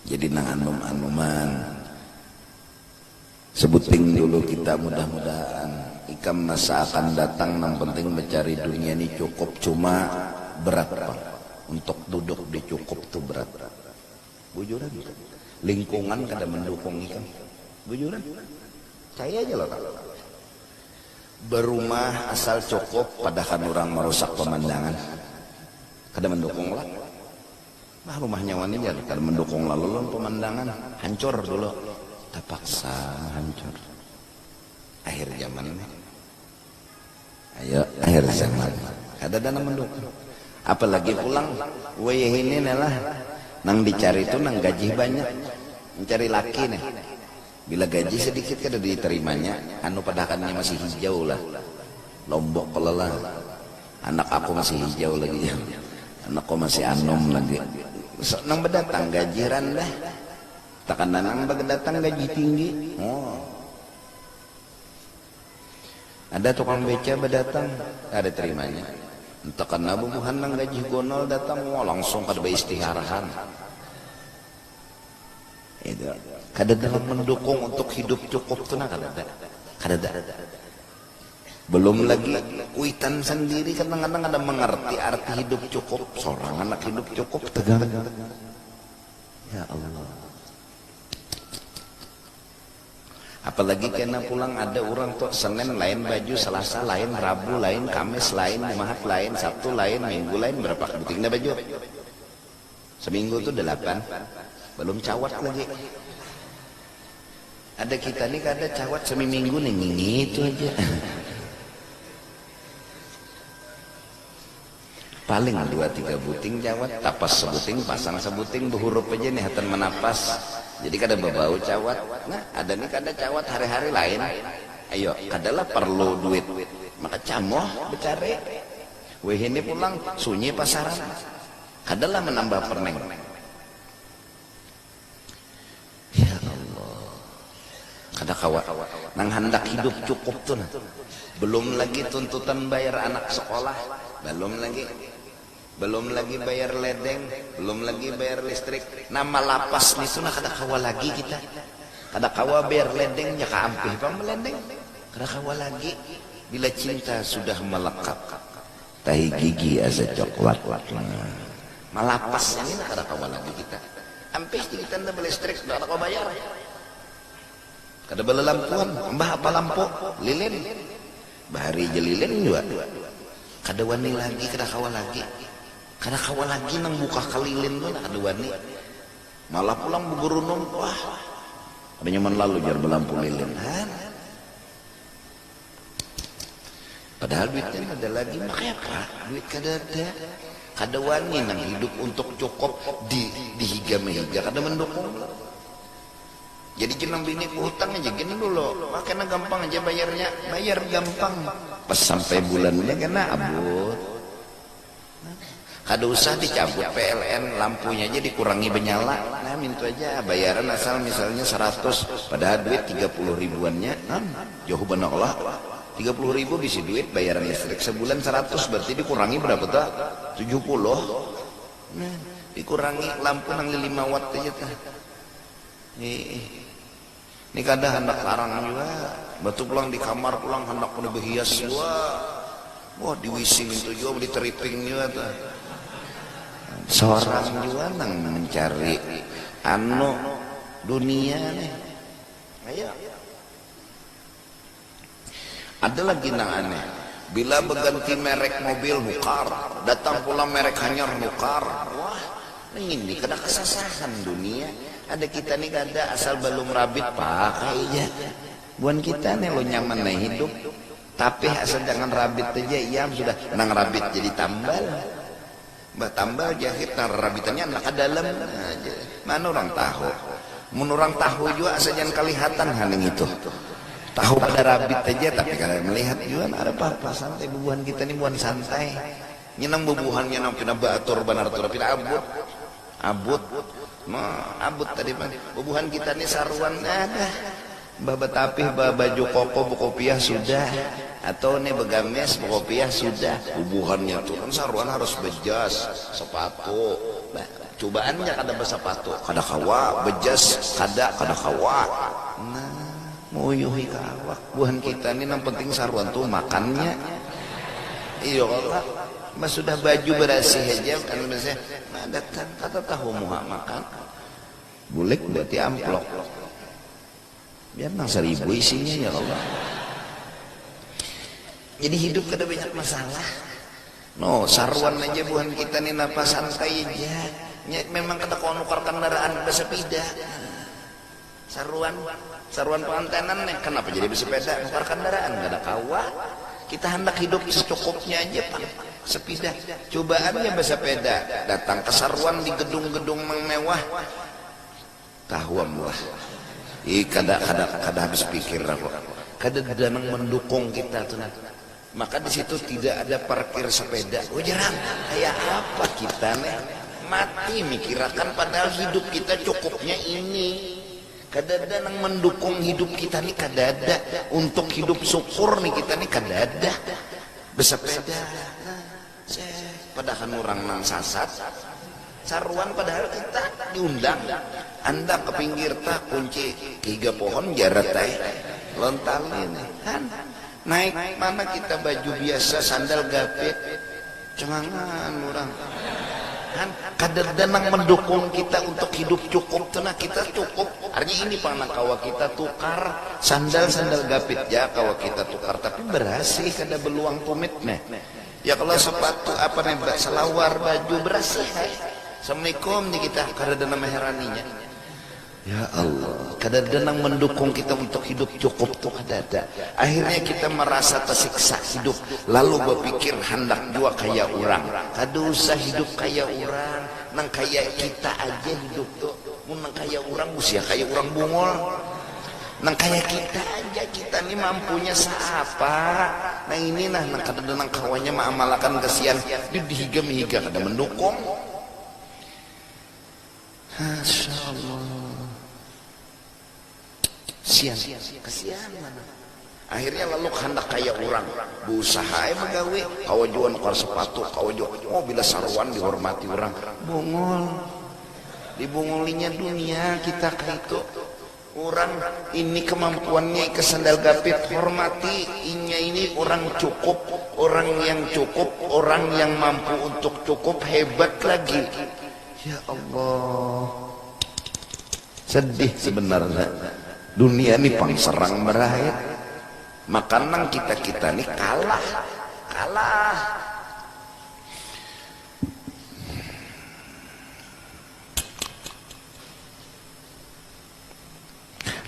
Jadi nang anum-anuman Sebuting dulu kita mudah-mudahan Ikam masa akan datang nang penting mencari dunia ini cukup Cuma berat bang Untuk duduk di cukup itu berat Bujuran Lingkungan kada mendukung ikam Bujuran Caya aja lo Berumah asal cukup padakan urang marusak pamandangan. Kada mandukung lah. Nah rumahnya wani jar kada mandukung lalu lawan pamandangan. Hancur dulu. Tapaksa hancur. Akhir zaman ni. Ayo akhir zaman. Kada ada nang mandukung. Apalagi pulang wayahini ni lah. Nang dicari tu nang gajih banyak. Mencari laki nih. Bila gaji sadikit kada di tarimanya, anu padahakannya masih hijau lah. Lombok pala lah. Anak aku masih hijau lagi jar. Anakku masih anum lagi. Besok nang badatang gaji randah. Takana nang badatang gaji tinggi. Oh. Ada tukang beca badatang, kada tarimanya. Takana bubuhan nang gaji gonol datang, wah langsung kada baistigharahan. Itu. Kadada nang mendukung untuk hidup cukup tu nah kadada. Kadada. Belum lagi kuitan sendiri kadang-kadang kada mengerti arti hidup cukup. Seorang anak hidup cukup tegang. Ya Allah. Apalagi kena pulang ada urang tu Senin lain baju, Selasa lain, Rabu lain, Kamis lain, Jumahat lain, Sabtu lain, Minggu lain, berapa buting dah baju. Seminggu tu delapan, balum cawat lagi. Ada kita ni kada cawat semiminggu ni ngingitu haja. Paling dua tiga buting cawat, tapas sebuting, pasang sebuting, behurup haja ni hatan manapas. Jadi kada bebau cawat. Nah, ada ni kada cawat hari-hari lain. Ayo, kada lah parlu duit. Maka camoh becari. Wihini pulang sunyi pasaran. Adalah menambah permen. Ya Allah. Kada kawa. Nang handak hidup cukup tu nah. Belum lagi tuntutan bayar anak sekolah. Belum lagi. Belum lagi bayar ledeng. Belum lagi bayar listrik. Nah malapas nitu nah kada kawa lagi kita. Kada kawa bayar ledeng. Nya ka ampih pang beledeng. Kada kawa lagi. Bila cinta sudah melekat. Tahi gigi asa coklat. Malapasnya ni nah kada kawa lagi kita. Ampih jadi tanda balistrik sudah kada kawa bayar. Kada balalampuan. Mbah apa lampu? Lilin. Bahari ja lilin jua. Kada wani lagi, kada kawa lagi. Kada kawa lagi nang bukaka lilin tu nah kada wani. Malah pulang bagarunum, wah kada nyaman lalu jar balampu lilin. Hah. Padahal duit kan ada lagi, maka apa? Duit kada ada. Kada wani nang hidup untuk cukup di dihiga mehiga kada mandukung lo. Jadi gin nang bini behutang aja gin dulu, wah kena gampang aja bayarnya, bayar gampang pas sampai bulannya kena abut. Kada usah dicabut PLN, lampunya ja dikurangi banyala. Nah mintu aja bayaran asal misalnya saratus, padahal duit tiga puluh ribuannya non, jauh banar kalo tiga puluh ribu bisi duit bayaran listrik sabulan saratus berarti dikurangi berapa tuh tujuh puluh, nah dikurangi lampu nang lilima watt aja tuh. Hii. Ni kada handak larang jua. Imbah tu pulang di kamar pulang handak mulai behias jua. Wah di wc ngintu jua di tripping jua tuh. Sorang jua nang mencari anu dunia nih. Ayo. Ada lagi nang aneh, bila baganti merek mobil nukar, datang pulang merek hanyar nukar. Wah, nangini kada kasasahan dunia. Ada kita ni kada, asal balum rabit pakai ja. Buhan kita ni lo nyaman ai hidup. Tapih asal jangan rabit aja, iam sudah nang rabit jadi tambal. Batambal jahit nang rarabitannya handak ka dalam haja. Mana urang tahu. Mun urang tahu jua asa jangan kalihatan ha nangitu. Tahu pada rabit haja tapi kada malihat jua kada papa santai bubuhan kita ni buhan santai. Nya nang bubuhannya nang pina baatur banar tu pina abut. Abut. Nah abut tadi pang. Bubuhan kita ni saruan adah. Bah batapih ba baju koko bakopiah sudah, atau ne bagamis bakopiah sudah, bubuhannya tu kan saruan harus bejas, sepatu, nah cubaan ja kada basapatu kada kawa, bejas kada kada kawa, nah meuyuhi ka awak, buhan kita ni nang penting saruan tu makannya, iyo kalo bah sudah baju barasih haja, kada tahu muha makan, Bulik berarti amplok. Biar nang saribu isinya ya Allah. Jadi hidup kada banyak masalah. No, saruan aja buhan kita nih napa santai aja. Ya, memang kada kau nukar kendaraan bersepeda. Saruan, saruan pengantenan nih. Kenapa jadi bersepeda? Nukar kendaraan kada kawa. Kita hendak hidup secukupnya aja, Pak. Sepida, cubaannya basapeda datang kasaruan di gedung-gedung nang mewah. Tahuam lah. Ih kada kada kada habis pikir aku. Kadada nang mandukung kita tu nah. Maka di situ tidak ada parkir sepeda. Ujarang, kaya apa kita nih. Mati mikirakan padahal hidup kita cukupnya ini. Kadada nang mandukung hidup kita nih kadada. Untuk hidup syukur nih kita nih kadada. Besepeda nah cek, padahan urang nang sasat saruan padahal kita diundang, handak ke pinggir ta kunci higa pohon jarat ai lontalin han naik mana kita baju biasa sandal gapit cengangan urang han kadada nang mendukung kita untuk hidup cukup tu nah kita cukup arnya ini pang nang kawa kita tukar. Sandal sandal gapit ja kawa kita tukar tapi berasih kada beluang tumit ne ya kalo sepatu apa ne ba selawar baju berasih ai assalamualaikum ja kita kadada nang meherani nya ya Allah kadada nang mendukung kita untuk hidup cukup tu kadada akhirnya kita merasa tesiksa hidup lalu bepikir handak jua kaya urang kada usah hidup kaya urang nang kaya kita aja hidup tu mun nang kaya urang usia kaya urang bungul. Nang kaya kita haja, kita ni mampunya saapa. Nang ini nah, nang kadada nang kawanya maamalakan kasian, dud dihiga mihiga kada mandukung. Masya Allah. Sian, kasian banar. Akhirnya laluk handak kaya urang, beusaha ai bagawi, kawa jua nukar sepatu, kawa jua, oh bila saruan dihormati urang, bungul. Dibungulinya dunia kita kaitu. Urang ini kemampuannya ikam sandal gapit, hormati, inya ini urang cukup, urang yang cukup, urang yang mampu untuk cukup, hebat lagi. Ya Allah. Sedih sebenarnya. Dunia ni pang serang berakhir. Maka nang kita-kita ni kalah. Kalah.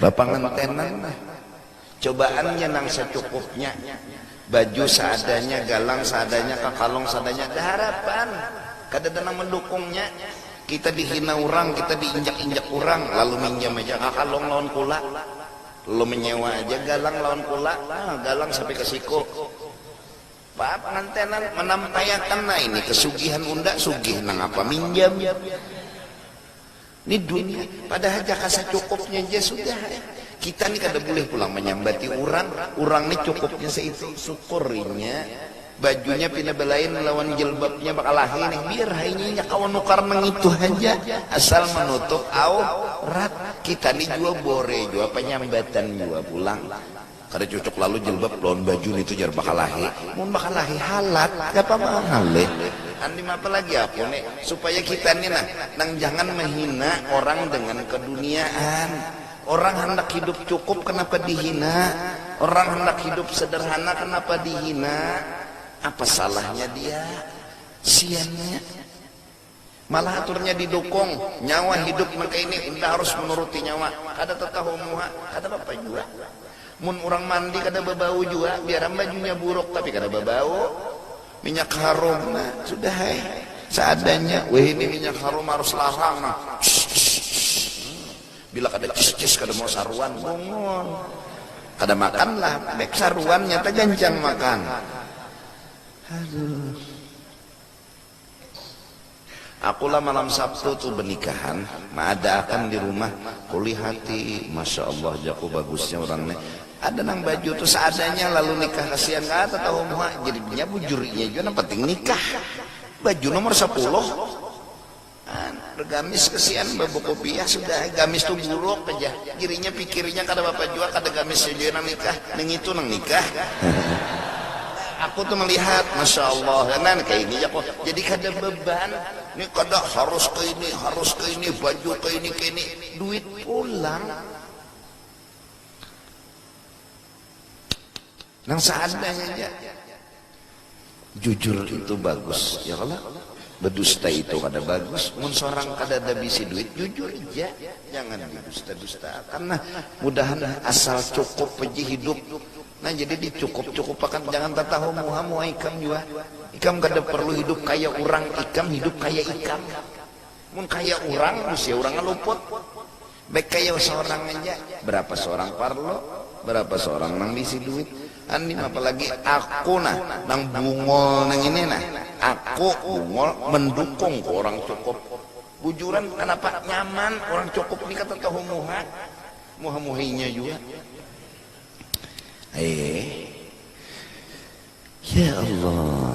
Bapangantenan lah. Cobaannya nang secukupnya. Baju seadanya, galang seadanya, kakalung seadanya, dah harapan. Kadada nang mandukungnya. Kita dihina urang, kita diinjak-injak urang, lalu minjam haja kakalung lawan kula. Lalu menyewa haja galang lawan kula. Nah, galang sampai ke siku. Pak pangantenan manampaiakan, nah ini kesugihan unda, sugih nangapa minjam. Ni dunia, padahal jaka sacukupnya ja sudah ai. Kita ni kada bulih pulang manyambati urang, urang ni cukupnya saitu, sukur inya bajunya pina balain lawan jilbabnya bakalahi ni, biar ha inya, inya kawa nukar nangitu haja, asal manutup au rat. Kita ni jua bore jua panyambatan jua pulang. Kada cucuk lalu jilbab lawan baju nitu jar bakalahi. Mun bakalahi halat, kayapa mahal lih. Andi mapa lagi aku ni, supaya kita ni nah nang jangan mahina orang dengan keduniaan. Orang handak hidup cukup kanapa dihina, orang handak hidup sederhana kanapa dihina. Apa salahnya dia, kesiannya. Malah aturnya didukung, nyawa hidup nangkaini unda harus manuruti nyawa, kada tatahu muha kada papa jua. Mun urang mandi kada babau jua, biar am bajunya buruk tapi kada babau. Minyak harum nah, sudah ai, seadanya. Wahini minyak harum harus larang nah, ssssss. Bila kada ssss kada mau saruan, bungul. Kada makanlah bek saruan nyata gancang makan. Aduh. Aku lah malam sabtu tu benikahan, maadaakan di rumah, kulihati, masya allah jaku bagusnya urang ne, ada nang baju tu seadanya lalu nikah kasian kada tahu muha jribnya bujurnya jua nang penting nikah, baju nomor sapuluh. Bergamis kesian babakopiah sudah ai gamis tu buruk haja dirinya pikirinya kada bapa jua kada gamisnya jua nang nikah nangitu nang nikah aku tu malihat masya allah nan kaya ini ja ko jadi kada beban ni kada harus kaya ini harus kaya ini baju kaya ini kaya ini duit pulang. Nang seadanya ja. Jujur itu bagus, ya kalo? Bedusta itu kada bagus. Mun sorang kadada bisi duit, jujur ja. Jangan didusta-dustaakan nah. Mudahan asal cukup haja hidup. Nah, jadi dicukup-cukupakan. Jangan tatahu muha muha ikam jua. Ikam kada parlu hidup kaya urang, ikam hidup kaya ikam. Mun kaya urang, busia urangnya luput. Bekayau sorang aja, berapa sorang parlo, berapa sorang nang bisi duit, andim apalagi aku nah nang bungol nang ini nah, aku bungol mendukung ku orang cukup, bujuran kenapa nyaman orang cukup ni kata tahu muha, muha muhinya jua. Aee. Ya Allah.